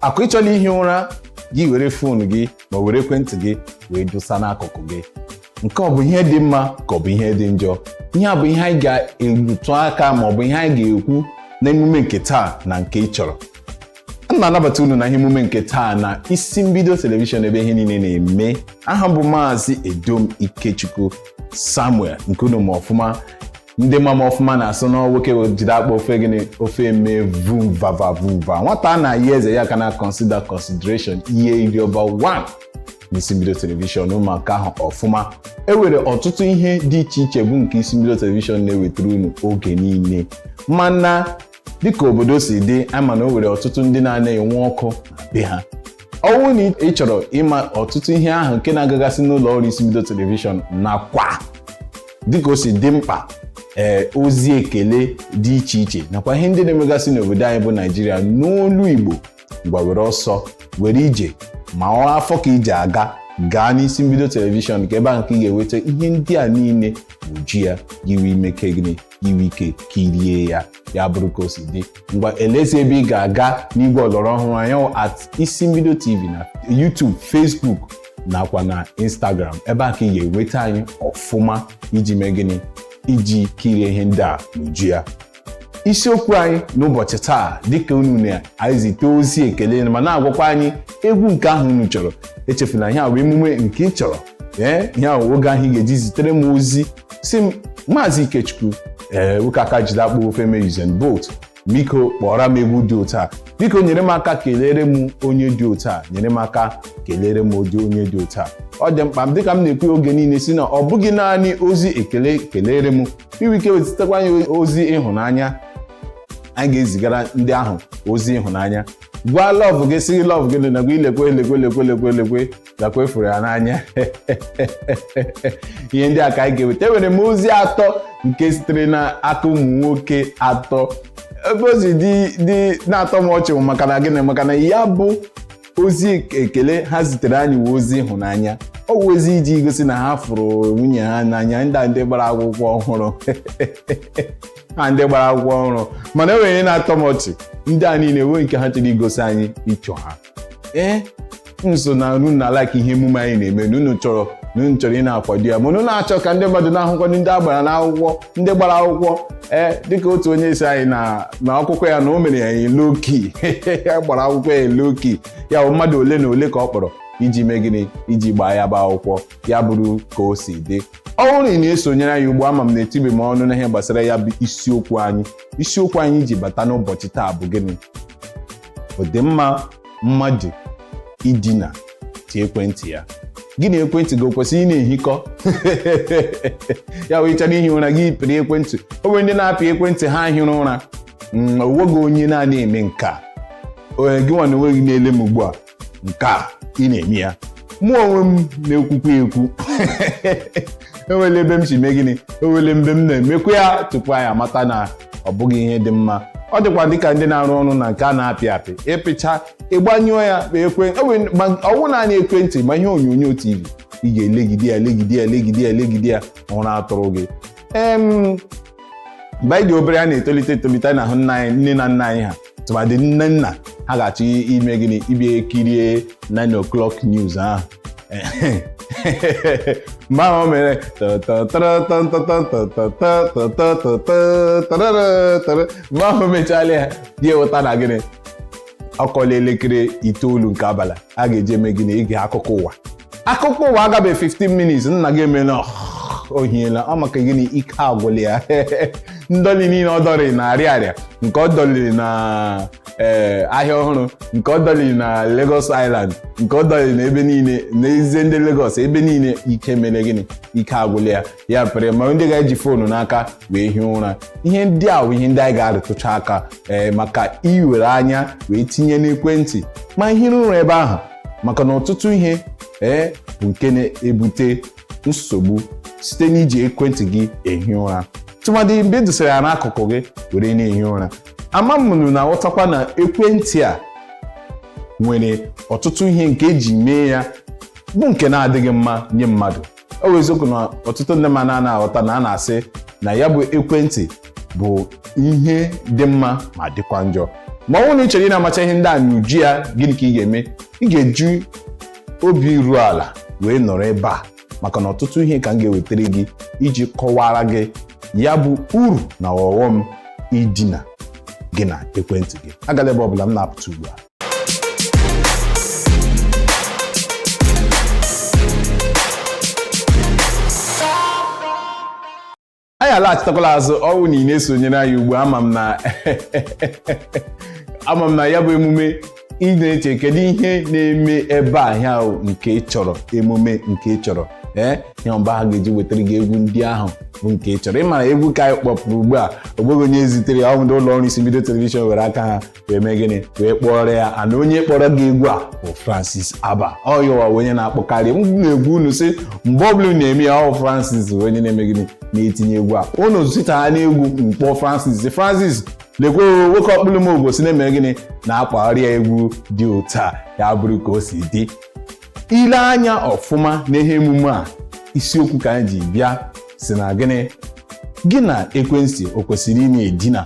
akwa ị chọla ihi ụra gị were fon gị ma were ekwentị gị wee dosa n'akụkụ gị nke ọ bụ ihe dị mma ka ọ bụ ihe dị njọ ihe a bụ ihe anyị ga-erutụ aka ma ọ bụ ihe anyị ga-ekwu n'emume nke taa na nke ị chọrọ m na-anabata unu na ihe emume nke taa na isi mbido telivishọn ebe ihe niile na-eme aha m bụ maazị edom ikechukwu samuel nke unu ma ọfụma ndị ma m ọfụma na-asị na nwoke jide akpụ ofe gịnị ofe eme vumvava vumva nwata a na-ayọ eze ya ka na consider consideration ihe iri ọba 1 n'isi mbido telivishọn ụmụaka ahụ ọfụma e nwere ọtụtụ ihe dị iche iche bụ nke isi mbido telivishọn na-ewetara unu oge niile mana dịka obodo si dị a ma na o nwere ọtụtụ ndị na-ana enwe ọkụ na be ha ọ bụrụ na ị chọrọ ịma ọtụtụ ihe ahụ nke na-agagasị n'ụlọ ọrụ isi mbido telivishọn nakwa dịka o si dị mkpa ee ozi ekele dị iche iche nakwa ihe ndị na-emegasị n'obodo anyị bụ naịjirịa n'olu igbo ngwa were ọsọ were ije ma ọ afọ ka ije aga gaa n'isi mbido telivishọn ka ebe ahụ ka ị ga-enweta ihe ndị a niile n'uju ya i wee meke gịnị i nwee ike kirie ya ya bụrụ ka o si dị ngwa elezi ebe ị ga-aga n'igwe ọlọrọ ọhụrụ anyị at isi mbido tv na youtube facebook nakwa na Instagram ebe a ka ị ga-enweta anyị ọfụma iji mee gịnị iji kirie ihe ndị a n'uju ya isiokwu anyị n'ụbọchị taa dịka unu na-ezite ozi ekele ma na-agwakwa anyị egwu nke ahụ unu chọrọ echefuna ihe a bụ emume nke ị chọrọ ee ihe ahụ oge ahụ ị ga-eji zitere m ozi sị m maazị Ikechukwu ee nwoke aka jide akpụ ofe eme Usain Bolt biko kpọọrọ m egwu dị otu a biko nyere m aka kelere m onye dị otu a nyere m aka kelere m ụdị onye dị otu a ọ dị mkpa dịka m na-ekwu oge niile sị na ọ bụghị naanị ozi ekele kelere m i nwe ike wee zitekwa anyị ozi ịhụnanya anyị ga-ezigara ndị ahụ ozi ịhụnanya gwa love gị sị love gị na gwa ilekwe nakwa ị fụrụ ya n'anya ihe ndị a ka anyị ga-eweta enwere m ozi atọ nke sitere n'aka ụmụ nwoke atọ ebe ozi dị na-atọ m ọchị bụ maka na gịnị maka na ya bụ ozi ekele ha zitere anyị wee ozi ịhụnanya ọ bụ ozi iji gosi na ha fụrụ nwunye ha n'anya ndị a ndị gbara akwụkwọ ọhụrụ ha ndị gbara akwụkwọ ọhụrụ mana e nwere ihe na-atọ m ọchị ndị a niile enwe nke ha chọrọ igosi anyị picture ha ee m sị na unu na-alike ihe emume anyị na-eme na unu chọrọ na unu chọrọ ị na-akwado ya mana unu na-achọ ka ndị mmadụ na-ahụkwa ndị a gbara n'akwụkwọ ndị gbara akwụkwọ ee dịka otu onye sị anyị na na akwụkwọ ya na o mere ya low-key ya gbara akwụkwọ ya low-key ya bụ mmadụ ole na ole ka ọ kpọrọ iji mee gịnị iji gbaa ya bụ akwụkwọ ya bụrụ ka o si dị ọ bụrụ na ị na-esonyere anyị ugbu a ama m na etibe m ọnụ n'ihe gbasara ya bụ isiokwu anyị isiokwu anyị ji bata n'ụbọchị taa bụ gịnị ọ dị mma mmadụ idina ti ekwentị ya gị na ekwentị gị o kwesịrị ị na-ehikọ ya wee chọrọ ihi ụra gị pịrị ekwentị o nwere ndị na-apị ekwentị ha hịrị ụra mm, o nweghị onye na-anaghị eme nke a gị nwa na onwe gị na-ele m ugbu a nke a ị na-eme ya mụ nwa onwe m na-ekwukwa ekwu enwere mgbe m si mee gịnị enwere mgbe m na-emekwa ya tupu anyị amata na ọ bụghị ihe dị mma ọ dịkwa dịka ndị na-arụ ọrụ na nke a na-apị apị ịpịcha ịgbanyụọ ya kpa ekwe ọ wụ naanị ekwentị ma ihe onyonyo tv ị ga-elegide ya legide ya legide ya legide ya ụra atụrụ gị em mgbe anyị dị obere a na-etolite etolite na-ahụ nna anyị nne na nna anyị ha tụmadị nne nna ha ga-achọ ime gịnị ịbịa kirie 9 o'clock news ahụ mgbe ahụ o mere mgbe ahụ mechala ya ya eweta na gịnị ọ kụọla elekere itoolu nke abalị a ga-eji eme gịnị ige akụkọ ụwa akụkọ ụwa agabe 15 minutes nna gị emela o hiela ọ maka gịnị ike agwụla ya ndọli niile ọ dọrị na Ariaria nke ọ dọliri na ee ahịa ọhụrụ nke ọ dọliri na Lagos Island nke ọ dọliri na ebe niile n'ezie ndị Lagos ebe niile ike mere gịnị ike agwụla ya ya pere ma ndị ga-eji foonu n'aka wee hie ụra ihe ndị a bụ ihe ndị anyị ga-arụtụcha aka ee maka iwere anya wee tinye n'ekwentị ma ihiri ụra ebe ahụ maka na ọtụtụ ihe ee bụ nke na-ebute nsogbu site n'iji ekwentị gị ehi ụra tụmadị mgbe edosara ya n'akụkụ gị were na-ehi ụra ama m ụnụ na-aghọtakwa na ekwentị a nwere ọtụtụ ihe nke eji mee ya bụ nke na-adịghị mma nye mmadụ ọ wụ eziokwu na ọtụtụ ndị mmadụ anaghị aghọta na a na-asị na ya bụ ekwentị bụ ihe dị mma ma dịkwa njọ ma ọ bụrụ na ị chọrọ ị na-amacha ihe ndị a n'uju ya gịnị ka ị ga-eme ị ga-eji obi iru ala wee nọrọ ebe a maka na ọtụtụ ihe ka m ga-ewetara gị iji kọwara gị ya bụ uru na ọghọm idina gị na ekwentị gị agala ebe ọbụla m na-apụta ugbu a anyị alaghachitakwala azụ ọ wụrụ na ị na-esonyere anyị ugbu a ama m na ya bụ emume ị na-eche kedu ihe na-eme ebe a ihe ahụ nke ị chọrọ emume nke ị chọrọ ee ya mgbe ahụ ga-eji wetara gị egwu ndị ahụ bụ nke ị chọrọ ị mara egwu ka anyị kpọpụrụ ugbu a o nweghị onye zitere ya ọ wụ ndị ụlọ ọrụ Isi Mbido telivishọn were aka ha wee mee gịnị wee kpọrọ ya and onye kpọrọ gị egwu a bụ Francis Aba ọ ya wụ onye na-akpọkarị m n'egwu unu sị mgbe ọbụla na-eme ya ọ wụ Francis wụ onye na-eme gịnị na-etinye egwu a unu sị taa na egwu m kpọọ Francis Francis lekwe nwoke ọkpụlụm obosi na-eme gịnị na-akpagharị ya egwu dị otu a ya bụrụ ka o si dị i lee anya ọfụma n'ihe emume a isiokwu ka anyị ji bịa sị na gịnị gị na ekwentị o kwesịrị ịna-edina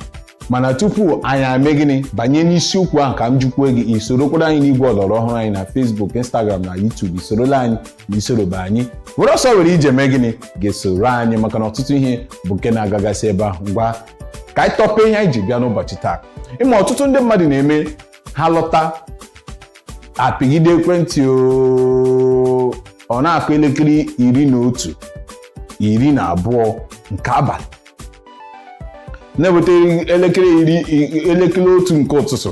mana tupu anyị emee gịnị banye n'isiokwu ahụ ka m jụkwuo gị i sorokwara anyị n'igwe ọlọrọ ọhụrụ anyị na Facebook Instagram na YouTube i sorola anyị na i sorobe anyị were ọsọ were ije mee gịnị gaa soro anyị maka na ọtụtụ ihe bụ nke na-agagasị ebe ahụ ngwa ka anyị tọpee ihe anyị ji bịa n'ụbọchị taa ị ma ọtụtụ ndị mmadụ na-eme ha lọta apịgide ekwentị oo. ọ na-akụ elekere iri na otu iri na abụọ nke abalị na-eweta elekere iri elekere otu nke ụtụtụ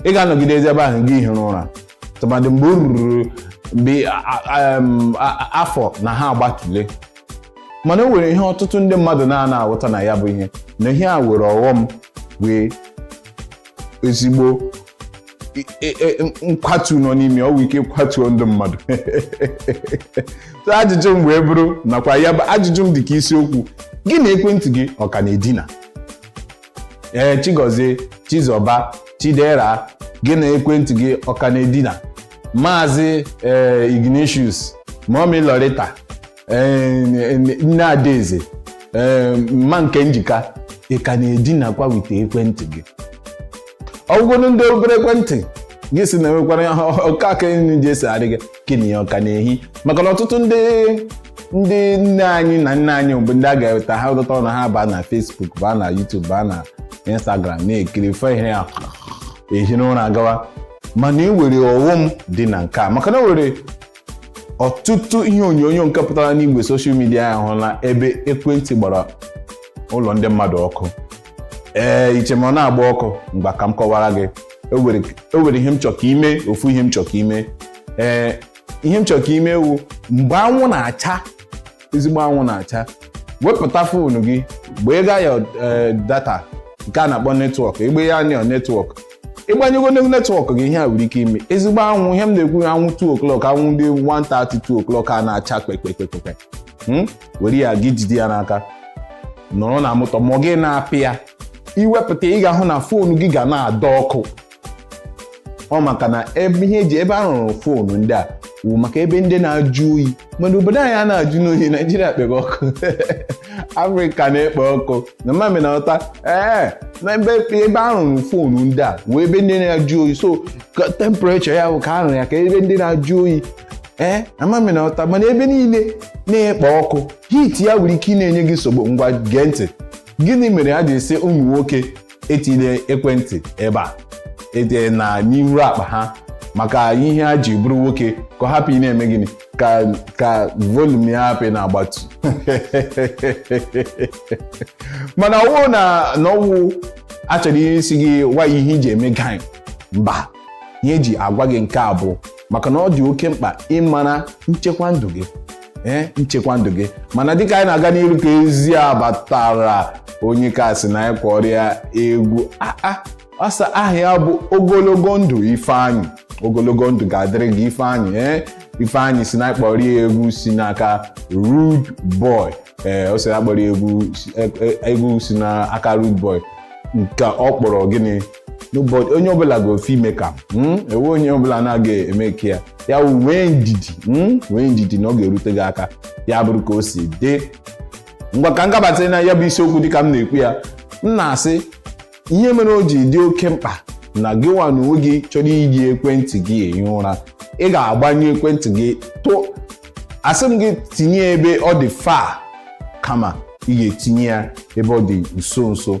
ị ga-anọgidezi ebe ahụ gị ehiri ụra tụmadị mgbe o ruru mgbe a- a- em, a- a- afọ na ha agbatule mana o nwere ihe ọtụtụ ndị mmadụ na-ana aghọta na ya bụ ihe na ihe a nwere ọghọm nwee ezigbo e, e, e, nkwatu nọ n'ime o nwere ike kwatuo ndụ mmadụ ajụjụ m wee bụrụ nakwa ya bụ ajụjụ m dị ka isiokwu gị na ekwentị gị ọ ka na-edina ee Chigozie Chizọba Chidera gị na ekwentị gị ọ ka na-edina maazị ee eh, Ignatius mummy Lorita eh, nne Adaeze ee eh, mma Nkemjika ị ka na-edinakwa with ekwentị gị ọgwụgwụ ndị obere ekwentị gị si na enwekwara ọka aka nri ji esi adị gị gị na ya ọ ka na-ehi maka na ọtụtụ ndị ndị nne anyị na nna anyị bụ ndị a ga-eweta ha ụtọta ọnụ ha baa na Facebook baa na YouTube baa na Instagram na-ekiri fe ihe ya ehi n'ụra gawa mana e nwere ọghọm dị na nke a maka na e nwere ọtụtụ ihe onyonyo nke pụtara n'igwe soshal midia a hụla ebe ekwentị gbara ụlọ ndị mmadụ ọkụ ee i chee ma ọ na-agba ọkụ ngwa ka m kọwara gị e nwere ihe m chọrọ ka i mee ofu ihe m chọrọ ka i mee ee ihe m chọrọ ka i mee wụ mgbe anwụ na-acha ezigbo anwụ na-acha wepụta foonu gị gbanye ya eh, data nke a na-akpọ netwọk gbanye ya netwọk ị gbanyego netwọk gị ihe a nwere ike ime ezigbo anwụ ihe m na-ekwu anwụ 2 o'clock anwụ ndị 1:30 2 o'clock a na-acha kpekpekpekpe hmm? were ya gị jide ya n'aka nọrọ na moto ma gị na-apị ya i wepụta ị ga-ahụ na foonu gị ga na-adị ọkụ ọ maka na ebe ihe eji ebe a rụrụ phone ndị a wụ maka ebe ndị na-ajụ oyi mana obodo anyị a na-ajụ n'oyi naijiria kpebe ọkụ afrịka na-ekpe ọkụ na m ma ị na-aghọta ee na ebe ebe a rụrụ phone ndị a wụ ebe ndị na-ajụ oyi so ka temperature ya wụ ka a rụrụ ya ka ebe ndị na-ajụ oyi ee na m ma ị na-aghọta mana ebe niile na-ekpe ọkụ heat ya nwere ike ị na-enye gị nsogbu ngwa gee ntị gịnị mere e ji asị ụmụ nwoke etinyele ekwentị ebe a ede na n'iru akpa ha maka ihe ha ji bụrụ nwoke ka ọ hapụ ị na-eme gịnị ka ka volume ya hapụ ị na-agbatu mana ọ wụ na na ọ wụ a chọrọ ịsị gị gwa ya ihe i ji eme guy mba ihe eji agwa gị nke a bụ maka na ọ dị oke mkpa ịmara nchekwa ndụ gị ee nchekwa ndụ gị mana dịka anyị na-aga n'iru ka ozi abatara onye ka sị na anyị kpọọrọ ya egwu aa ọ sị aha ya bụ ogologo ndụ ifeanyị ogologo ndụ ga-adịrị gị ifeanyị ee ifeanyị sị na anyị kpọọrọ ya egwu si n'aka rude boy ee ọ sị na a kpọọrọ ya egwu egwu si n'aka rude boy nke ọ kpọrọ gịnị n'ụbọchị onye ọbụla ga-ofe ime ka hmm? ewe onye ọbụla na-aga eme ka ya ya nwee ndidi hmm? nwee ndidi na ọ ga-erute gị aka ya bụrụ ka o si dị ngwa ka m gabata na ya bụ isiokwu dịka m na-ekwu ya m na-asị ihe mere o ji dị oke mkpa na gịnwa n'onwe gị chọrọ iji ekwentị gị ehi ụra ị ga-agbanyụ ekwentị gị tụ asị m gị tinye ya ebe ọ dị far kama ị ga-etinye ya ebe ọ dị nso nso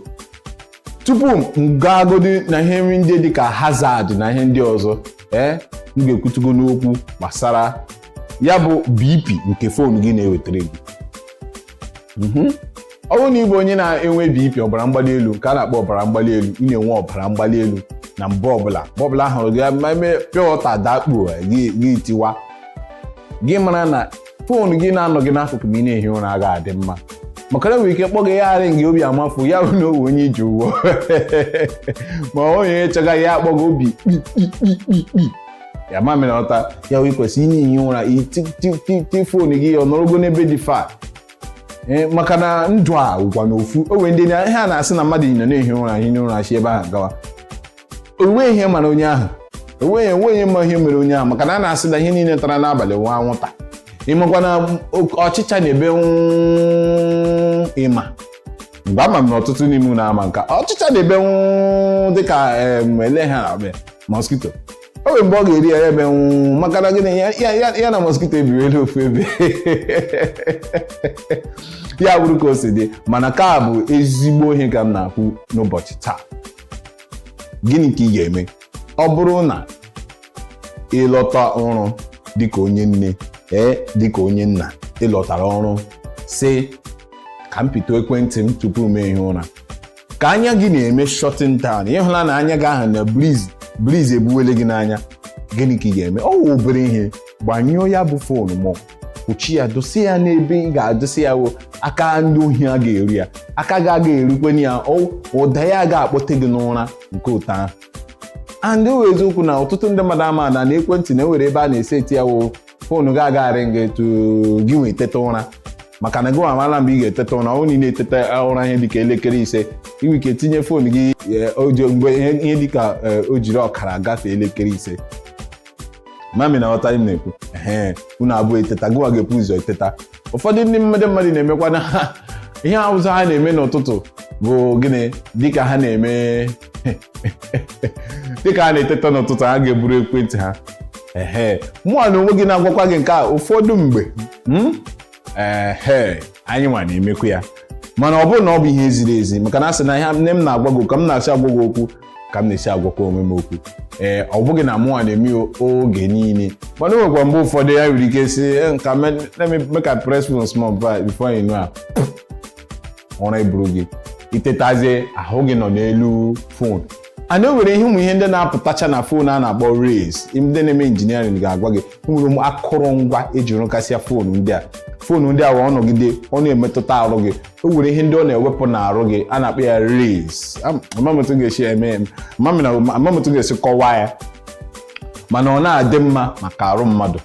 tupu m gaagodi na ihe ndị dị ka hazard na ihe ndị ọzọ ee eh, m ga-ekwutugo n'okwu gbasara ya bụ bp nke phone gị na-ewetara gị mhm. ọ bụrụ na ị bụ onye na-enwe bp ọbara mgbali elu nke a na-akpọ ọbara mgbali elu ị na-enwe ọbara mgbali elu na mgbe ọbụla mgbe ọbụla ahụ gị ma eme pịa ọta dakpuo gị tiwa gị mara na phone gị na-anọ gị n'akụkụ ma ị na-ehi ụra agaghị adị mma maka na nwere ike kpọọ gị ya ring obi amafu ya bụ na o nwee onye i ji ụgwọ ma onye chọga ya akpọ gị obi kpikpikpikpi ya ma mere ọta ya wee kwesị ị na-ehi ụra i ti phone gị ọ nọrọgo n'ebe dị far e, maka na ndụ a wụkwanụ ofu o nwere ndị a na-asị na mmadụ nọ na-ehi ụra hie ụra si ebe ahụ gawa o nwe ihe mere onye ahụ o nweghị onye ma ihe mere onye ahụ maka na a na-asị na ihe niile tara n'abalị wụ anwụta ị makwa na ọchịcha na-ebe ịma mgbe ama m na ọtụtụ n'ime unu ama na ọchịcha na-ebe dịka ele ha mosquito o nwere mgbe ọ ga-eri ya ebe nwụ maka na gịnị ya na mosquito ebiriela ofu ebe ya bụrụ ka o si dị mana ka bụ ezigbo ihe ka m na-ekwu n'ụbọchị taa gịnị ka ị ga-eme ọ bụrụ na ị lọta ọrụ dịka onye nne ee dịka onye nna ị lọtara ọrụ sị ka m pịtụ ekwentị m tupu m ehie ụra ka anya gị na-eme shutting down ị hụla na anya gị ahụ na breeze ebuwele gị n'anya gịnị ka ị ga-eme ọ wụ obere ihe gbanyụọ ya bụ foonu ma kpuchi ya dosie ya n'ebe ị ga-adosi ya wụ aka ndị ohi a ga-eru ya aka gị aga erukwe na ya ọ- ụda ya ga-akpọte gị n'ụra nke ụtọ ahụ and ọ wụ eziokwu na ọtụtụ ndị mmadụ ama ada na ekwentị nwere ebe a na-eseti ya wụ foonu gị agagharị gị etu gị nwee teta ụra maka na gị amala mgbe ị ga-eteta ụra ọ niile eteta ụra ihe dịka elekere ise i nwere ike tinye foonu gị eh, o ji- mgbe ihe ihe dịka eh, o jiri ọkara gafee elekere ise mami na-aghọta m na-ekwu ee unu abụọ eteta gịnwa ga-ebu ụzọ eteta ụfọdụ ndị mma- mmadụ na-emekwa na ha ihe ụzọ ha na-eme n'ụtụtụ bụ gịnị dịka ha na-eme dịka ha na-eteta n'ụtụtụ ha ga-eburu ekwentị ha ehe mụwa na onwe gị na-agwakwa gị nke a ụfọdụ mgbe ehe anyị nwa na-emekwa ya mana ọ bụghị na ọ bụ ihe ziri ezi maka na a sị na ihe nne m na-agwa gị ka m na-esi agwa gị okwu ka m na-esi agwakwa onwe m okwu ee ọ bụghị na mụnwa na-eme ya oge niile mana o nwekwa mgbe ụfọdụ ya nwere ike sị "Eh, nka me- let me make I press phone small bit before you know am." ụra eburu gị i tetazie ahụ gị nọ n'elu fon and o nwere ihe ụmụ ihe ndị na-apụtacha na fon a na-akpọ rays ndị na-eme injiniarịn ga-agwa gị o nwere ụmụ akụrụngwa eji rụkasịa fon ndị a fon ndị a wụ ọ nọgide ọ na-emetụta arụ gị o nwere ihe ndị ọ na-ewepụ n'arụ gị a na-akpọ ya rays ama m otu m ga-esi eme ama m otu m ga-esi kọwaa ya mana ọ na-adị mma maka arụ mmadụ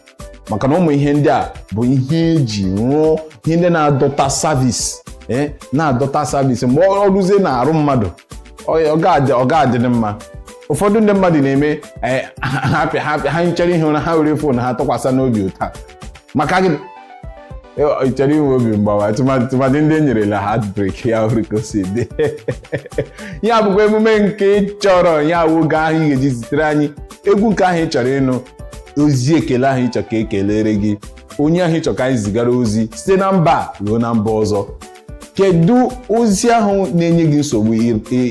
maka na ụmụ ihe ndị a bụ ihe eji rụọ ihe ndị na-adọta service eh, na-adọta service mgbe o ruzie na arụ mmadụ ọ ga-adị mma ụfọdụ ndị mmadụ na-eme eh, ha chọọ ihi ụra ha were fon ha tụkwasị n'obi ụta maka gịnị ị chọrọ inwe obi mgbawa tụmadị ndị enyerela heartbreak ya bụrụ ka o si dị ihe a bụkwa emume nke ị chọrọ ihe a wụ oge ahụ ị ga-eji zitere anyị egwu nke ahụ ị chọrọ ịnụ ozi ekele ahụ ị chọrọ ka ekelere gị onye ahụ ị chọrọ ka anyị zigara ozi site na mba ruo na mba ọzọ kedu ozi ahụ na-enye gị nsogbu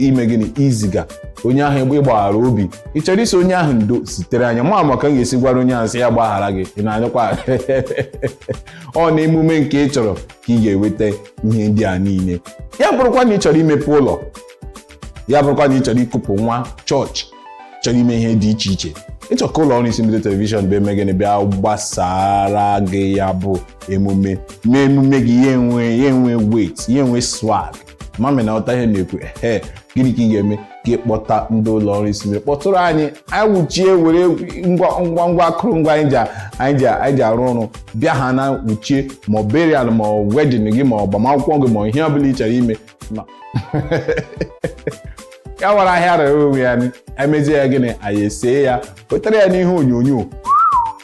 ime gịnị iziga onye ahụ ịgbaghara obi ị chọrọ ịsị onye ahụ ndo zitere anyị ama m ka m ga-esi gwara onye ahụ sị ya gbaghara gị ị na-anụkwa ọ na emume nke ị chọrọ ka ị ga-eweta ihe ndị a niile ya bụrụkwa na ị chọrọ imepe ụlọ ya bụrụkwa na ị chọrọ ikupụ nwa chọọchị chọrọ ime ihe dị iche iche ị chọọ ka ụlọ ọrụ isi mbido telivishọn bịa mee gịnị bịa gbasaara gị ya bụ emume mee emume gị ya enwe ya enwe weight ya enwe swag ama m na ị ghọta ihe na-ekwu ehe gịnị ka ị ga-eme ka ị kpọta ndị ụlọ ọrụ isi mbido kpọtụrụ anyị anyị wuchie were ngwa ngwa ngwa akụrụngwa anyị ji anyị ji anyị ji arụ ọrụ bịa ha na wuchie ma ọ burial ma ọ wedding gị ma agbamakwụkwọ gị ma ihe ọ bụla ị chọrọ ime nọ ya wụrụ ahịa rere onwe ya emezie ya gịnị anyị esee ya wetara ya n'ihe onyonyo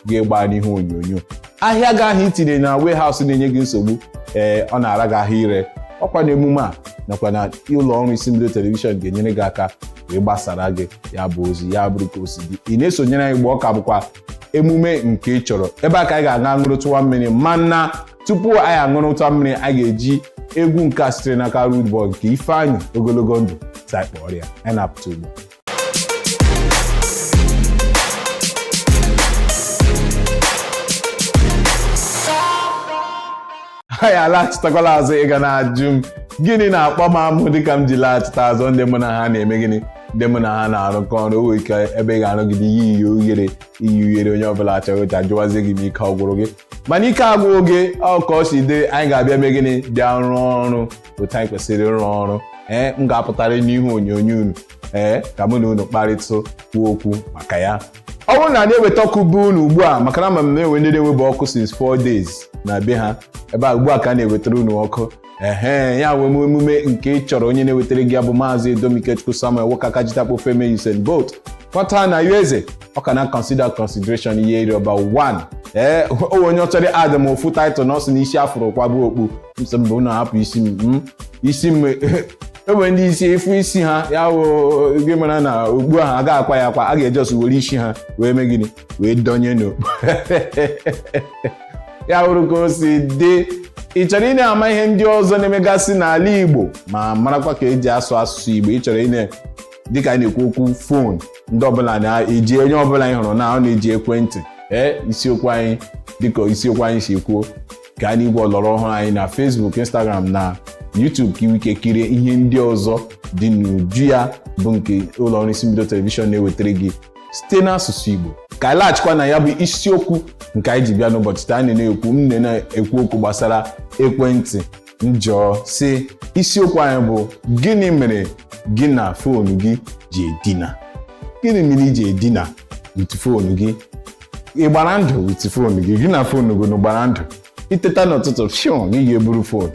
ga-agba n'ihe onyonyo ahịa gị ahụ i tinye na warehouse na-enye gị nsogbu ee ọ na-ara gị ahụ ire ọ kwa na emume a nakwa na ụlọ ọrụ isi mbido telivishọn ga-enyere gị aka wee gbasaara gị ya bụ ozi ya bụrụ ka o si dị ị na-esonyere anyị mgbe ọ ka bụkwa emume nke ị chọrọ ebe a ka anyị ga-aga ṅụrụtụwa mmiri mana tupu anyị aṅụrụtụ mmiri a ga-eji egwu nke a sitere n'aka Rude Boy nke Ifeanyi ogologo ndụ ka a kpọrọ ya anyị na-apụta ugbu a. anyị alaghachitakwala azụ ị ga na-ajụ m gịnị na-akpa m amụ dịka m ji laghachita azụ ndị mụ na ha na-eme gịnị ndị mụ na ha na-arụkọ ọrụ o nwere ike ebe ị ga-arụgide ihe iyi ughere iyi ughere onye ọbụla achọghị ụcha jụwazie gị ma ike ọ gwụrụ gị mana ike agwụọ gị ọ ka o si dị anyị ga-abịa mee gịnị bịa rụọ ọrụ otu anyị kwesịrị ịrụ ọrụ ee m ga-apụtara n'ihu onyonyo unu ee ka mụ na unu kparịta kwuo okwu maka ya ọ bụrụ na anyị eweta ọkụ be unu ugbu a maka na ama m na e nwe ndị na-enwebe ọkụ since 4 days na be ha ebe a ugbu a ka a na-ewetara unu ọkụ ehe ya wụ emume nke ị chọrọ onye na-ewetara gị ya bụ maazị Edom Ikechukwu Samuel wokaka jitakpofe eme Usain Bolt kọta na ueze ọ ka na consider consideration ihe iri ọba 1 ee o nwe onye ọ chọrọ adị m ofu title na ọ sị na isi a fụrụ kwaba okpu m sị mba unu hapụ isi m m isi m e nwere ndị isi efu isi ha ya wụ gị mara na okpu ahụ a ga-akwa ya akwa a ga-eji ọsụ were isi ha wee mee gịnị wee donye n'okpu ya bụrụ ka o si dị ị chọrọ ị na-ama ihe ndị ọzọ na-emegasị n'ala Igbo ma marakwa ka e ji asụ asụsụ Igbo ị chọrọ ị na dịka anyị na-ekwu okwu fon ndị ọbụla na-eji onye ọbụla anyị hụrụ na ọ na-eji ekwentị ee isiokwu anyị dịka isiokwu anyị si kwuo gaa n'igwe ọlọrọ ọhụrụ anyị na Facebook Instagram na YouTube ka i nwee ike kirie ihe ndị ọzọ dị n'uju ya bụ nke ụlọọrụ isi mbido telivishọn na-ewetara gị site n'asụsụ Igbo ka anyị laghachikwa na ya bụ isiokwu nke anyị ji bịa n'ụbọchị taa anyị na-ekwu m na-ekwu okwu gbasara ekwentị m jụọ sị isiokwu anyị bụ gịnị mere gị na foonu gị ji edina gịnị mere i ji edina with foonu gị ị gbara ndụ with foonu gị gị na foonu gị gbara ndụ i teta n'ụtụtụ fiam gị ga-eburu foonu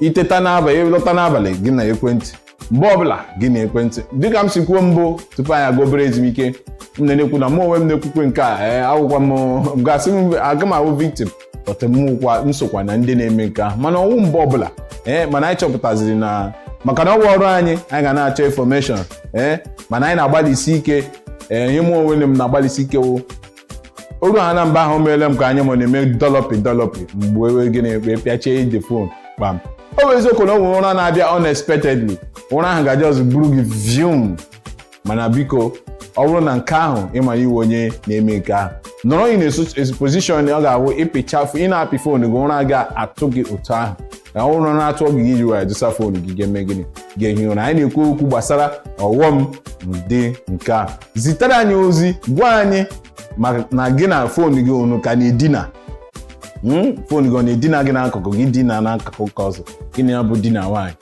i teta n'abalị ị lọta n'abalị gị na ekwentị mgbe ọbụla gị na ekwentị dịka m si kwuo mbụ tupu anyị aga obere ezumike m na-ekwu na mụ onwe m na-ekwukwa nke a ee awụkwa m gasị m aga m awụ victim ọtụmụkwa m sokwa na ndị na-eme nke ahụ mana ọ wụ mgbe ọbụla ee mana anyị chọpụtaziri na maka na ọ wụ ọrụ anyị anyị ga na-achọ information ee mana anyị na-agbalịsi ike ee ihe mụ onwe m na-agbalịsi ike wụ o ruhana mgbe ahụ o meele m ka anya m na-eme dọlọpị dọlọpị m ga-eme gịnị ekpe pịachie the fon kpam ọ bụ eziokwu na o nwere ụra na-abịa unexpectedly ụra ahụ ga just buru gị vium mana biko ọ bụrụ na nke ahụ ị ma ị wụ onye na-eme nke ahụ nọrọ in a position ọ ga-awụ ịpịchafụ ị na-apị fon gị ụra ga-atụ gị otu ahụ na ụra na-atụ gị i ji nwayọ dosa fon gị ga-eme gịnị ga-ehi ụra anyị na-ekwu okwu gbasara ọghọm dị na nke a zitere anyị ozi gwa anyị ma na gị na fon gị unu ka na-edina Mm, fon gị ọ na-edina gị n'akụkụ gị dina n'akụkụ nke ọzọ gị na ya bụ di na nwaanyị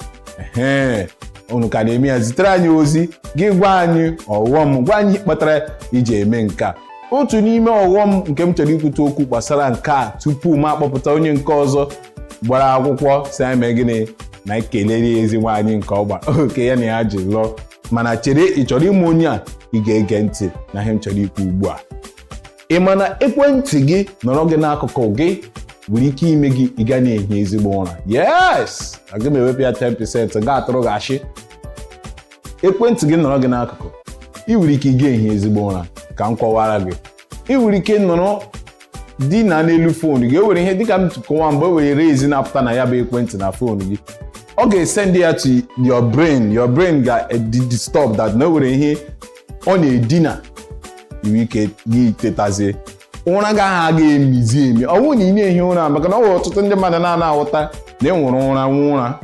Ehe, unu ka na-eme ya zitere anyị ozi gị gwa anyị ọghọm gwa anyị ihe kpatara i ji eme nke a otu n'ime ọghọm nke m chọrọ ikwute okwu gbasara nke a tupu m akpọpụta onye nke ọzọ gbara akwụkwọ sị anyị mee gịnị na anyị kelere ya ezi nwaanyị nke ọgba oke ya na ya ji lụọ mana chere ị chọrọ ịma onye a ị ga-ege ntị n'ihe m chọrọ ikwu ugbu a ị ma na ekwentị gị nọrọ gị n'akụkụ gị nwere ike ime gị ị ga na-ehi ezigbo ụra yes aga m ewepụ ya 10% ga-atụrụ gị ashị ekwentị gị nọrọ gị n'akụkụ ị nwere ike ị ga-ehi ezigbo ụra ka m kọwara gị ị nwere ike nọrọ dina n'elu fon gị o nwere ihe dịka m kọwara gị o nwere rays na-apụta na ya bụ ekwentị na fon gị ọ ga-esend ya to your brain your brain ga-adị disturbed na o nwere ihe ọ na-edina i nwere ike gị tetazie ụra gị ahụ aga emizi emi ọ bụrụ na ị na-ehi ụra maka na o nwere ọtụtụ ndị mmadụ na-ana aghọta na enwere ụra nwee ụra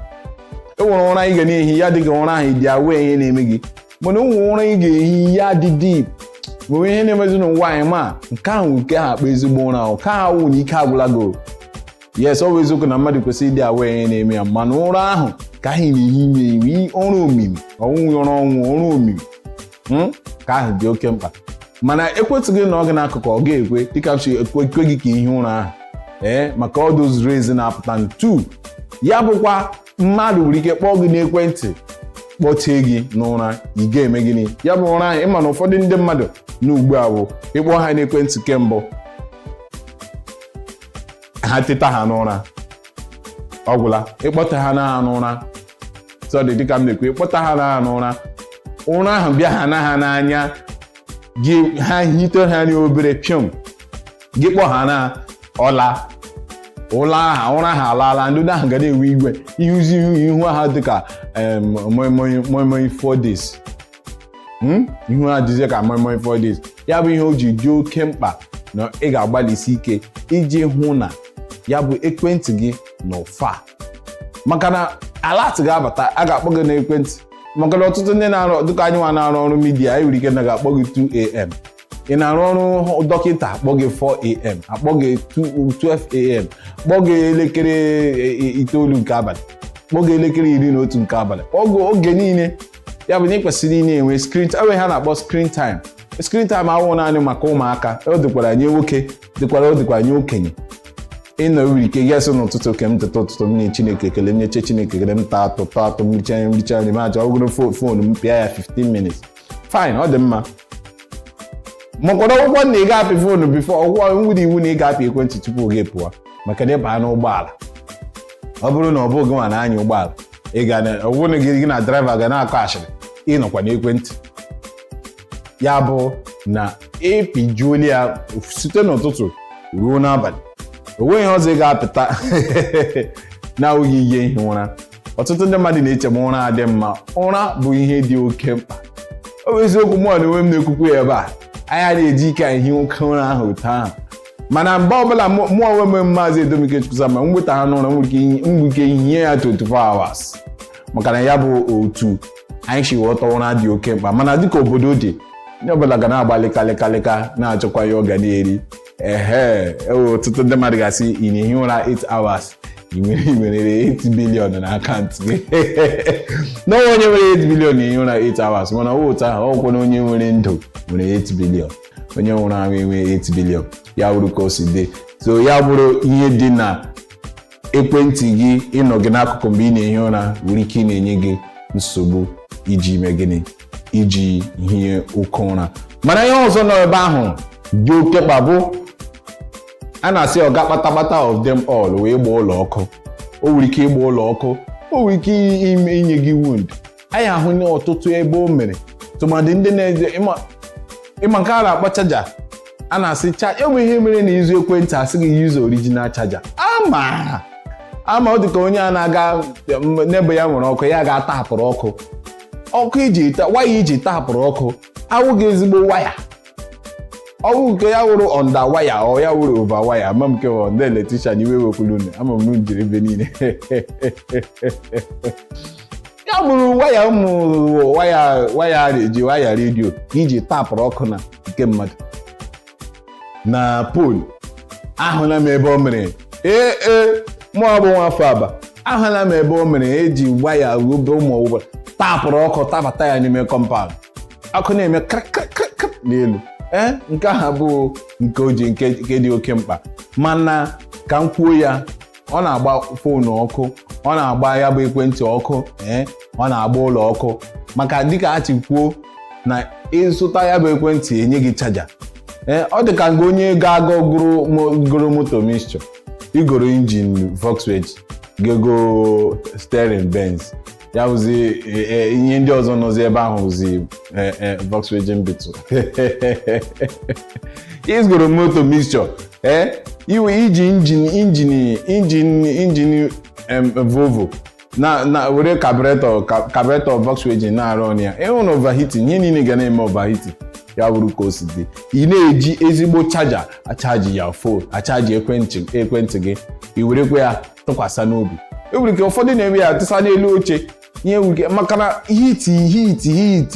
enwere ụra ị ga na-ehi ya dịka ụra ahụ dị aware ihe na-eme gị mana o nwere ụra ị ga-ehi ya dị deep o nwe ihe na-emezi n'ụwa a ị ma nke ahụ nke ha akpọ ezigbo ụra ahụ ka ha wụ na ike agwụla gị yes ọ bụ eziokwu na mmadụ kwesịrị ịdị aware ihe na-eme ya mana ụra ahụ ka ahụ na-ehi emi wụ ụra omimi ọ wụghị ụra ọnwụ ụra omimi hmm? ka ahụ dị oke mkpa mana ekwentị gị nọ gị n'akụkụ ọ ga-ekwe dịka m si ekwu gị ka i hie ụra ahụ ee eh, maka all those rays na-apụta ntu ya bụkwa mmadụ nwere ike kpọọ gị n'ekwentị kpọtee gị n'ụra ị ga-eme gịnị ya bụ ụra ahụ ị ma na ụfọdụ ndị mmadụ nọ ugbu a bụ ị kpọọ ha n'ekwentị kembụ ha teta ha n'ụra ọ gwụla ịkpọta ha na n'ụra sorry dịka m na-ekwu ịkpọta ha na n'ụra ụra ahụ bịahana ha n'anya gị ha hitehana obere piom gị kpọ ha na ọ laa ụra ha alaala ndị ahụ ga na-ewe iwe ị hụzi ihu ha dịka moimoi four days hmm? ihu ha dịzie ka moimoi four days ya bụ ihe o ji dị oke mkpa na ị ga-agbalịsi ike iji hụ na ya bụ ekwentị gị nọ far maka na alert ga-abata a ga-akpọ gị n'ekwentị maka na ọtụtụ ndị na-arụ dịka anyị nwa na-arụ ọrụ media anyị nwere ike na ga-akpọ gị 2am ị na-arụ ọrụ dọkịta a kpọọ gị 4am a kpọọ gị 12am kpọọ gị elekere e, e, itoolu nke abalị kpọọ gị elekere iri na otu nke abalị kpọọ gị oge niile ya bụ na ị kwesịrị ịna-enwe screen time ha na-akpọ screen time screen time awụ naanị maka ụmụaka ọ dịkwara nye nwoke dịkwara ọ dịkwara nye okenye ịnọ nwere ike gasị n'ụtụtụ okay m teta ụtụtụ m nye chineke ekele m nyechaa chineke ekele m taa atụ taa atụ m richa nri m richa nri ma aja ọgụrụ fon m pịa ya 15 minutes fine ọ dị mma makwara ọ wụkwa na ị ga-apị foonu before ọ wụkwa e nwere iwu na ị ga-apị ekwentị tupu gị pụọ maka na ị baa n'ụgbọala ọ bụrụ na ọ bụghị gị nwa na-anya ụgbọala ị ga na ọ bụrụ na gị gị na driver ga na-akọ ashịrị ị nọkwa n'ekwentị ya bụ na ị pịjuola ya site n'ụtụtụ ruo n'abalị o nweghị ihe ọzọ ị ga-apịta na-awụghị ije ihi ụra ọtụtụ ndị mmadụ na-eche ma ụra adị mma ụra bụ ihe dị oke mkpa ọ bụ eziokwu mụ n'onwe m na-ekwukwu ya ebe a anyị na-eji ike anyị hie oke ụra ahụ otu ahụ mana mgbe ọbụla mụ onwe m maazị Edomike Chukwusa ma m nweta ha n'ụra nwere ike ihi ya 24 hours maka na ya bụ otu anyị si ghọta ụra dị oke mkpa mana dịka obodo dị onye ọbụla ga na-agbalị kalịkalịka na-achọkwa ihe ọ ga na-eri ehe ewe ọtụtụ ndị mmadụ ga-asị ị na-ehi ụra 8 hours ị nwere ị nwere 8 billion na akaụntụ gị n'ọnwa onye nwere 8 billion na-ehi ụra 8 hours mana ọ wụ otu ahụ ọ wụkwa na onye nwere ndụ nwere 8 billion onye nwụrụ anwụ enwe 8 billion ya bụrụ ka o si dị so ya bụrụ ihe dị na ekwentị gị ịnọ gị n'akụkụ mgbe ị na-ehi ụra nwere ike ịna-enye gị nsogbu iji ime gịnị iji hie oke ụra mana ihe ọzọ nọ ebe ahụ dị oke mkpa bụ a na-asị oga kpatakpata of them all wụ ịgba ụlọ ọkụ o nwere ike ịgba ụlọ ọkụ o nwere ike inye gị wound anyị ahụna ọtụtụ ebe o mere tụmadị ndị na-eji ị ma ị ma nke a na-akpọ chaja a na-asị cha e nwere ihe mere na ị zụọ ekwentị a sị gị use original chaja ama ama ọ dịka onye a na-aga m, neighbour ya nwere ọkụ ya gaa taapụrụ ọkụ ọkụ e ji ta waya e ji taapụrụ ọkụ awụghị ezigbo waya ọ wụ nke ya wụrụ ọnda waya ọ ya wụrụ ova waya ama m nke ọ ndị electrician iwe wekwuru unu ama m unu jiri ebe niile ya bụrụ waya ụmụ waya waya a na-eji waya redio ka iji tapụrụ ọkụ na nke mmadụ na pol ahụla m ebe o mere ee ee mụ bụ nwafọ Aba ahụla m ebe o mere e ji waya obe ụmụ ụgbọ tapụrụ ọkụ tabata ya n'ime kọmpaụnd ọkụ na-eme krakrakrak n'elu ee nke ahụ abụghị nke o ji nke nke dị oke mkpa mana ka m kwuo ya ọ na-agba foonu ọkụ ọ na-agba ya bụ ekwentị ọkụ ee ọ na-agba ụlọ ọkụ maka dịka a ti kwuo na ị zụta ya bụ ekwentị e nye gị chaja ee ọ dị ka nga onye ga-aga goro mo- goro moto mixture i goro injin Volkswagen gee goo steering Benz ya wụzi e, e, ihe ndị ọzọ nọzi ebe ahụ wụzi e, Volkswagen Beetle i goro moto mixture ee iwe iji injin injin injin injin Volvo na na were carburetor carburetor Volkswagen na-arụ ọnụ ya ịhụ na overheating ihe niile ga na-eme overheating ya wụrụ ka o si dị ị na-eji ezigbo chaja achaji ya fon achaji ekwentị ekwentị gị i werekwa ya tụkwasị n'obi e nwere ike ụfọdụ na-eme ya tụsa n'elu oche ihe nwere ike maka na heat heat heat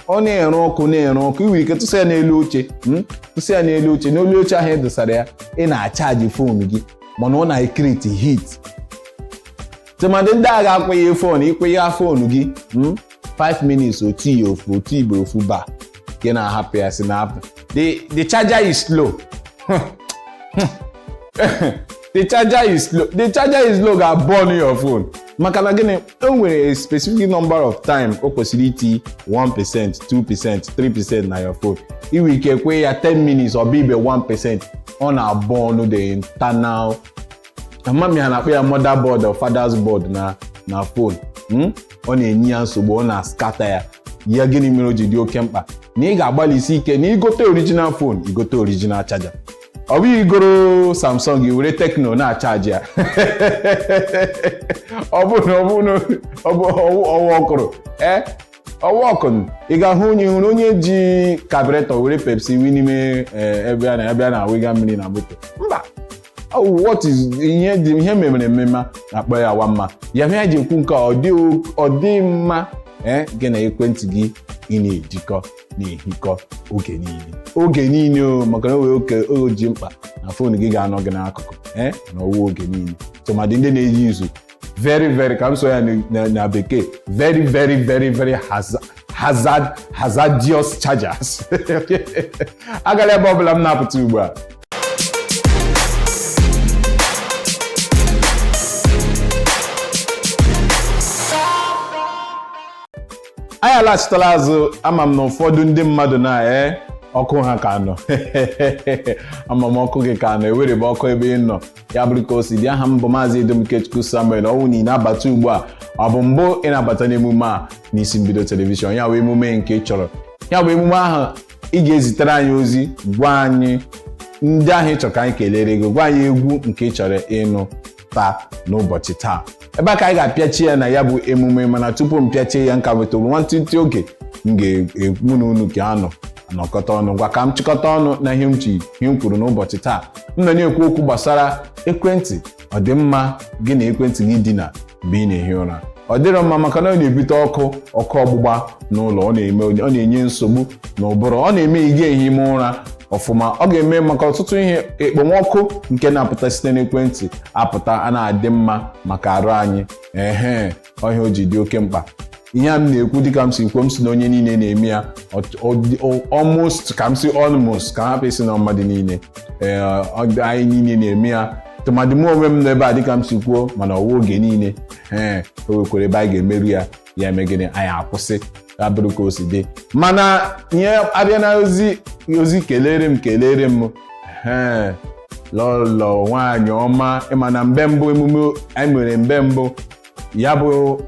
ọ na-ere ọkụ na-ere ọkụ ị nwere ike tụsa ya n'elu oche hmm? tụsa ya n'elu oche n'elu oche ahụ ị e dosara ya ị na-achaji fon gị mana ọ na-ecreate heat tụmadị ndị ga-akwụnye fon ị kwụnye fon gị hmm? 5 minutes otu ya ofu otu igbo ofu ba nke na-ahapụ ya si na-apụ the the charger is slow the charger is slow the charger is slow ga-burn your phone maka na gịnị o nwere a specific number of time o kwesịrị iti 1 percent 2 percent 3 percent na your phone i nwe ike kwee ya 10 minutes ọ bụ ibe 1 percent ọ na-burn the internal ama m ihe ha na-akpọ ya motherboard or father's board na na fon hmm? ọ na-enye ya nsogbu ọ na-ascatter ya ya gịnị mere o ji dị oke mkpa na ị ga-agbalịsi ike na i gote original fon i gote original chaja ọ bụghị i goro Samsung i were Tecno na-achaji ya ọ bụ na ọ bụ na ọ bụ ọwa ọkụrụ ee ọwa ọkụrụ ị ga-ahụ onye hụrụ onye ji carburetor were Pepsi wụ n'ime ebe a na-abịa na-awụga mmiri na moto mba Oh, what is ihe dị ihe e memara emema a na-akpọ ya nwa mma ya ihe anyị ji ekwu nke a, ọ dị o- ọ dị mma ee gị na ekwentị gị ị na-edikọ na-ehikọ oge niile oge niile o maka na o nwere oge o ji mkpa na fon gị ga-anọ gị n'akụkụ ee na ọ wụ oge niile tụmadị ndị na-eji izu very very ka m sụọ ya na- na- na bekee very very very very haza- hazard hazardous chargers agala ebe ọbụla m na-apụta ugbu a anyị alaghachitala azụ ama m na ụfọdụ ndị mmadụ na ee ọkụ ha ka nọ ama m ọkụ gị ka nọ ewerebe ọkụ ebe ị nọ ya bụrụ ka o si dị aha m bụ maazị edom ikechukwu samuel ọ wụ na ị na-abata ugbu a ọ bụ mbụ ị na-abata n'emume a n'isi mbido telivishọn ya bụ emume nke ị chọrọ ya bụ emume ahụ ị ga-ezitere anyị ozi gwa anyị ndị ahụ ị chọrọ ka anyị kelere gị gwa anyị egwu nke ị chọrọ ịnụ taa n'ụbọchị taa ebe a ka anyị ga-apịachi ya na ya bụ emume mana tupu m pịachie ya m ka nwetụrụ nwantịntị oge m ga- mụ na unu ka anọ anọkọta ọnụ ngwa ka m chịkọta ọnụ na ihe m ji ihe m kwuru n'ụbọchị taa m nọ na-ekwu okwu gbasara ekwentị ọ dị mma gị na ekwentị gị idina mgbe ị na-ehi ụra ọ dịrọ mma maka na ọ na-ebute ọkụ ọkụ ọgbụgba n'ụlọ ọ na-eme ọ na-enye nsogbu na ụbụrụ ọ na-eme ị ga-ehi ime ụra ọfụma ọ ga-eme maka ọtụtụ ihe ekpomọkụ nke na-apụta site n'ekwentị apụta anaghị adị mma maka arụ anyị ehe ọ ihe a o ji dị oke mkpa ihe a m na-ekwu dịka m si kwuo m sị na onye niile na-eme ya almost ka m sị almost ka hapụ ịsị na mmadụ niile anyị niile na-eme ya tụmadị m onwe m n'ebe a dịka m si kwuo mana ọ wụ oge niile ee o nwekwara ebe anyị ga-emeru ya ya eme gịnị anyị akwụsị ya bụrụ ka o si dị mana ihe abịa na ozi ozi kelere m kelere m ee lọlọ nwaanyị ọma ị ma na mbe mbụ emume anyị mere mbe mbụ ya bụ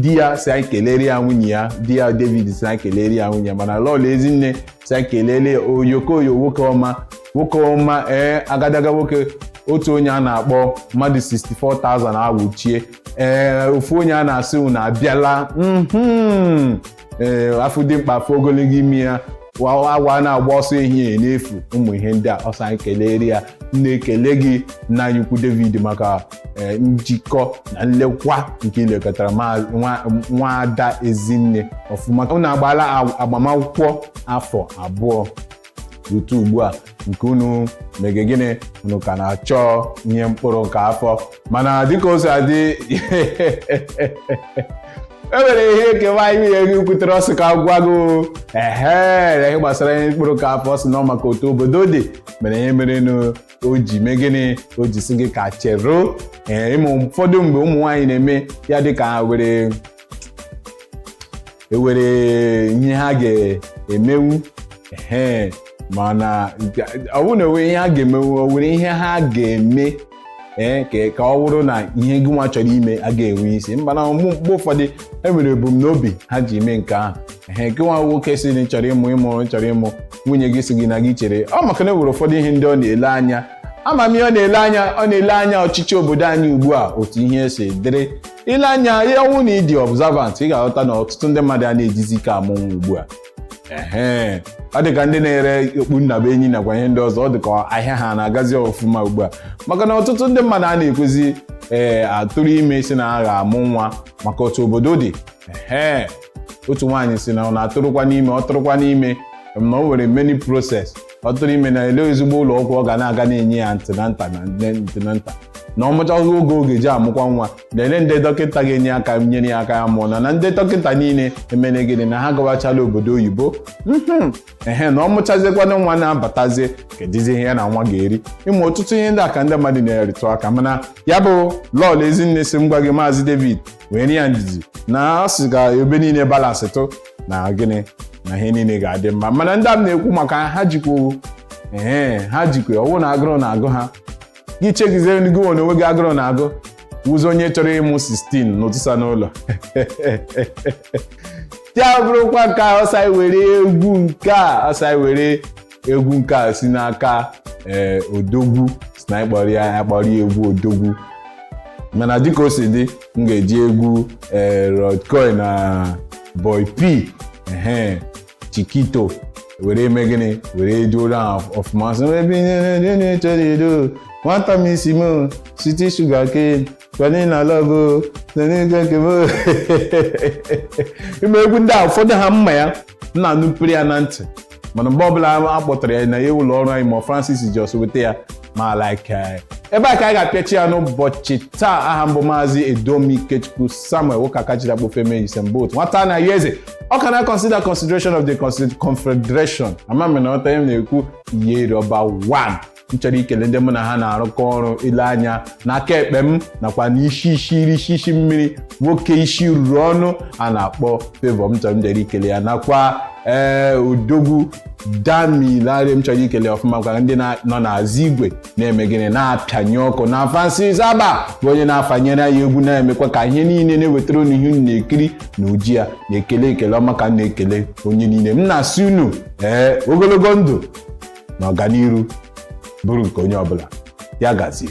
di ya sị anyị kelere ya nwunye ya di ya david sị anyị kelere ya nwunye ya mana lọlọ ezinne sị anyị kelere ya oyokoyo nwoke ọma nwoke ọma ee agadaga nwoke otu onye a na-akpọ mmadụ 64,000 awụchie ee ofu onye a na-asị unu abịala mhm. ee a fụ dimkpa a fụ ogologo imi ya wa- awọ anaghị agba ọsọ ehihie n'efu ụmụ ihe ndị a ọ sị anyị kelere ya m na-ekele gị nna anyị ukwu david maka ee, njikọ na nlekwa nke i lekọtara ma- nwa- nwa ada ezinne ọfụma unu agbaala ag- agbamakwụkwọ afọ abụọ rute ugbu a nke unu mege gịnị unu ka na-achọ ihe mkpụrụ nke afọ mana dịka o si adị e nwere ihe nke nwaanyị nwunye gị kwutere ọ sị ka gwa gị ehe ihe gbasara ihe mkpụrụ nke afọ sị na ọ maka otu obodo dị mere ihe mere nụ o ji mee gịnị o ji sị gị ka cheruo ee ị ma ụfọdụ mgbe ụmụ nwaanyị na-eme ya dịka were ewere ihe ha ga-emenwu ee mana ọ bụrụ na ewere ihe ha ga-emenwu o were ihe ha ga-eme ee ka ọ bụrụ na ihe gị nwa chọrọ ime a ga-enwe isi mana mgbe ụfọdụ e nwere ebumnobi ha ji eme nke ahụ ee gị nwa nwoke sị na chọrọ ịmụ ịmụ chọrọ ịmụ nwunye gị sị gị na gị chere ọ maka na e nwere ụfọdụ ihe ndị ọ na-ele anya ama m ihe ọ na-ele anya ọ na-ele anya ọchịchị obodo anyị ugbu a otu ihe si dịrị i lee anya ya ọ wụ na ị dị observant ị ga-aghọta na ọtụtụ ndị mmadụ a na-ejizi ike amụ nwa ugbu a ehe ọ dị ka ndị na-ere okpu nnabuenyi nakwa ihe ndị ọzọ ọ dị ka ahịa ha na-agazi ọfụma ugbu a maka na ọtụtụ ndị mmadụ a na-ekwezi ee atụrụ ime sị na ha ga-amụ nwa maka otu obodo dị ehe otu nwaanyị sị na ọ na-atụrụkwanụ ime ọ tụrụkwanụ ime na o nwere many process ọ tụrụ ime na elee ezigbo ụlọ ọgwụ ọ ga na-aga na-enye ya antenatal na-enwe antenatal na ọ mụchaa oge oge e ji amụkwa nwa na elee ndị dọkịta ga-enye aka nyere ya aka ya mụọ na na ndị dọkịta niile emere gịnị na ha gawachala obodo oyibo mhm ehe na ọ mụchazikwanụ nwa na-abatazie kedụzi ihe ya na nwa ga-eri ị ma ọtụtụ ihe ndị a ka ndị mmadụ na-arụtụ aka mana ya bụ lọọlọ ezinne sị m gwa gị maazị david weere ya ndidi na ọ sị ka ebe niile balance tụ na gịnị na ihe niile ga-adị mma mana ndị a m na-ekwu maka ha jikwa ee ha jikwa ọ wụ na agụrụ na-agụ ha gị chegizie gị nwa onwe gị agụrụ na-agụ wụzi onye chọrọ ịmụ 16 tụsa n'ụlọ ya bụrụkwa nke a ọsa were egwu nke a ọsa were egwu nke a si n'aka ee eh, odogwu si na ịkpọrọ ya akpọrọ ya egwu odogwu mana dịka o si dị m ga-eji egwu ee eh, Rord Kelly na BoyPee ehe chikito were eme gịnị were eduoro ha ọfụma sị ebe na-echere edo nwata m isi m site sugar cane vanilla love na n'ego nke m ị ma egwu ndị a ụfọdụ ha mma ya m na-anụpere ya na ntị mana mgbe ọbụla a kpọtara ya n'ụlọ ọrụ anyị ma Francis just weta ya mụ a-like eh, ebe a ka anyị ga-apịachi ya n'ụbọchị taa aha m bụ maazị Edomi Ikechukwu Samuel nwoke aka jiri akpọ feme Usain Bolt nwata anayọ eze ọka na consider consideration of the consi- confederation ama m na ọta ihe m na-ekwu ihe iri ọba 1 m chọrọ ikele ndị mụ na ha na-arụkọ ọrụ i lee anya n'aka ekpe m nakwa n'isi isi iri isi isi mmiri nwoke isi ruru ọnụ a na-akpọ Favour m chọrọ m jere ikele ya nakwa ee odogwu Damilare m chọrọ ikele ọfụma kwa ndị na- nọ n'azụ igwe na-eme gịnị na-apịanye ọkụ na Francis Aba bụ onye na-afanyere anyị egwu na-emekwa ka ihe niile na-ewetara unu ihe unu na-ekiri na uji ya na-ekele ekele ọma ka m na-ekele unu niile m na-asị unu ee ogologo ndụ na ọganiru bụrụ nke onye ọbụla ya gazie